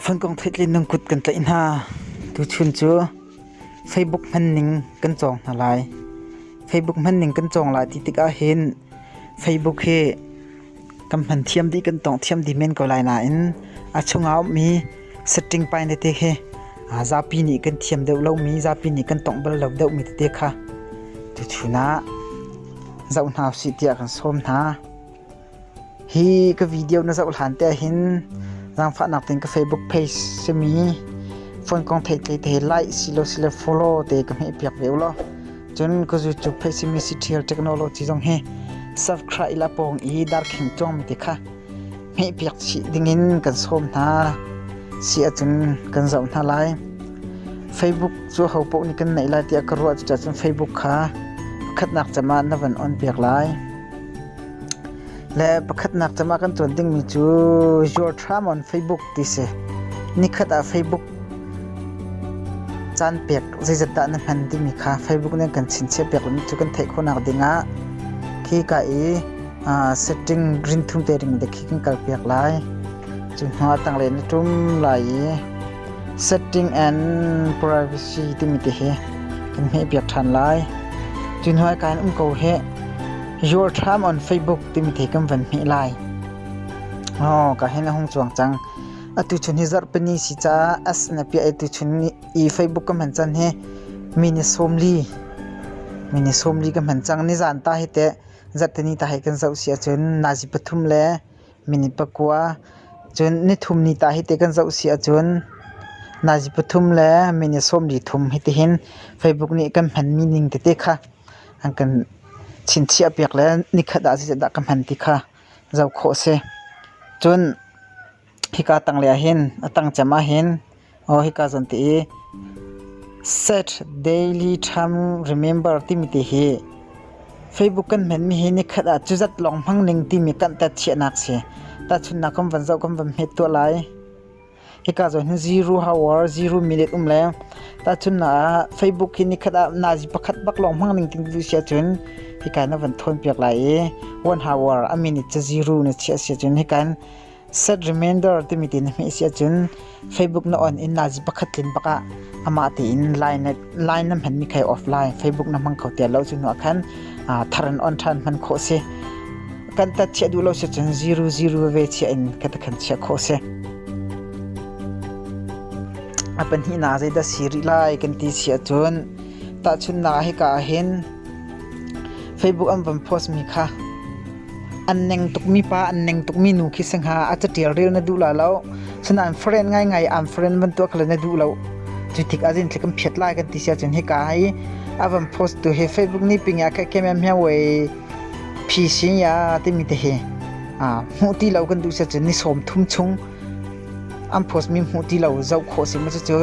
Fankong theihtleinung kut kan tlaih hna. Tuchun cu Facebook hmanning kan cawng hna lai. Facebook hmanning kan cawng lai ti tikah hin Facebook hi kan hman thiam dih, kan tawng thiam dih men ko lai nain a chungah a ummi setting pai tete hi zapi nih kan thiam deuh lomi, zapi nih kan tawngh bal lo deuhmi tete kha tuchun ah zoh hna usih tiah kan sawm hna. Hi ka video na zoh hlan te hin zaangfahnak ting ka Facebook page simi phone kong thei tle te like silo sile follow te ka hmeh piak ve ulaw cun ka YouTube page simi Cithial Technology zong hi subscribe la pawng i darkhing cuang mi te kha hmeh piak chih dingin kan sawm hna si ahcun kan zoh hna lai Facebook cu ho paoh nih kan neih lai tiah ka ruah cucacun Facebook kha khatnak cem ah na van on piak lai Le pakhatnak cem ah kan ṭuan dingmi cu Your Charm on Facebook ti si. Nikhat ah Facebook caan pek zeizat dah na hman timi kha Facebook nih kan chinchiah piak lomi cu kan theih khawhnak ding ah khi ka i uh, setting green thum te ring de khi kan kal piak lai. Cu hnu ah tanglei na ṭum lai i Setting and privacy timi ti hi kan hmehpiak ṭhan lai. Tun hnuai ka in um ko hi Your Time on Facebook timi ti kan van hmeh lai. Oh, ka hin a hung chuang cang. Atu chun hi zarhpini si ca as na pia atu chun i Facebook kan hman chan hi mini somli mini somli kan hman cang ni zan ta hi te zartani ta hi kan zoh si ahcun nazi pathum le minute pakua cun nithum ni ta hi te kan zoh si ahcun nazi pathum le minute sawmli thum hi tihin Facebook nih kan hmanmi ning tete kha an kan chinchiah piak le nikhat ah zeitindah ka hman ti kha zoh khawh a si. Cun hika tanglei ahhin a tangcem ahhin Aw hika zan ti i Saturday Time Remember timi ti hi Facebook kan hmen mi hi nikhat ah cuzat lawng hmang ning timi kan tat chiahnak si. Tahchunnak kan van zoh kan van hmet tuah lai. Hika zawn hin zero hour zero minute um leng tahchun na ah Facebook hi nikhat ah nazi pakhat bak lawng hmang ning ting tu sia chun hika na van thawn piak lai i one hour a minute cha zero na chia sia chun hikan Set Remainder timi ti na hmeh si ahcun Facebook na on in naazi pakhat tlin bak ah amah tein line na, line na hmanmi kha i offline Facebook na hmang kho tiah lo cu nuah khan aa, thar in on ṭhan hman khawh si. Kan tat chiah duh lo si cun 0 ve chiah in ka takhan chiah khawh si. A pahnih na zei dah si rih lai kan ti si ahcun tahchunnak hika ah hin Facebook an van post mi kha An neng tukmi pa, an neng tukmi nu khi si hnga a catial rel na duh la lo. Sinain friend ngaingai an friend bantuk kha na duh lo. Cu tik ah zin thlik an phiat lai kan ti sia cun hika hi a van post tu hi Facebook ni ping ah kha kem mia wei phi sin ya timi te hi. Hmuh ti lo kan duh sia cun ni sawm thum chung an post mi hmuh ti lo zoh khawh si maw cu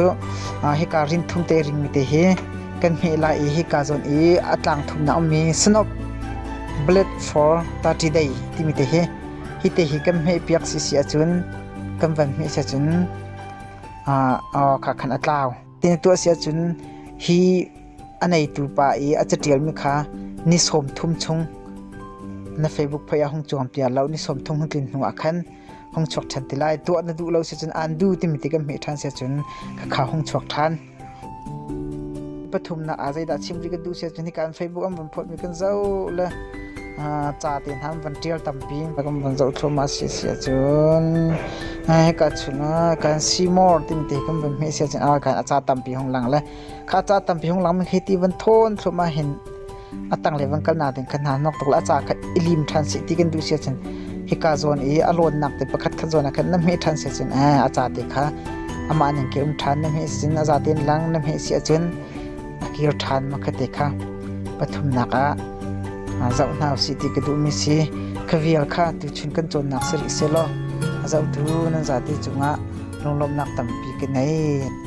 hika rin thum te ring mi te hi kan hmeh lai i hika zawn i a tlang thum na um mi snob blade for 30 day timi te hi hi te hi kan hmeh piak si si acun kan van hmeh si cun kha khan a tlau tin tu si cun hi a neitu pa i a catial mi kha ni som thum chung na facebook phoya hung chuang pia lo ni som thum hun tlin hnu ah khan hong chuak ṭhan ti lai tuah na duh lo si cun an du timi ti kan hmeh ṭhan si cun khakha hong chuak ṭhan pathumnak ah zeidah chim ri kan duh si cun hikan facebook an van photmi kan zoh le ca te hna van ṭial tampi kan van zoh thluahmah si si cun hika chun kan simor tin ti kan van hmeh si cun a kan a ca tampi hong lang le kha ca tampi hong lang hi ti van thawn thluahmah hin a tanglei van kalnak ding khan hna hnawk tuk la ca kha i lim ṭhan seh ti kan duh sia cun hika zawn i a lawnnak te pakhat khat zawn ah khan na hme ṭhan sia cun a a ca te kha amah ning ke um ṭhan na hme sin a za tein lang na hme sia cun a kir ṭhan ma kha te kha pathumnak ah zoh hna usih ti ka duhmi si ka vial kha tu chun kan cawnnak si rih se law a zohtu nan zate cungah lunglawmnak tampi ka nei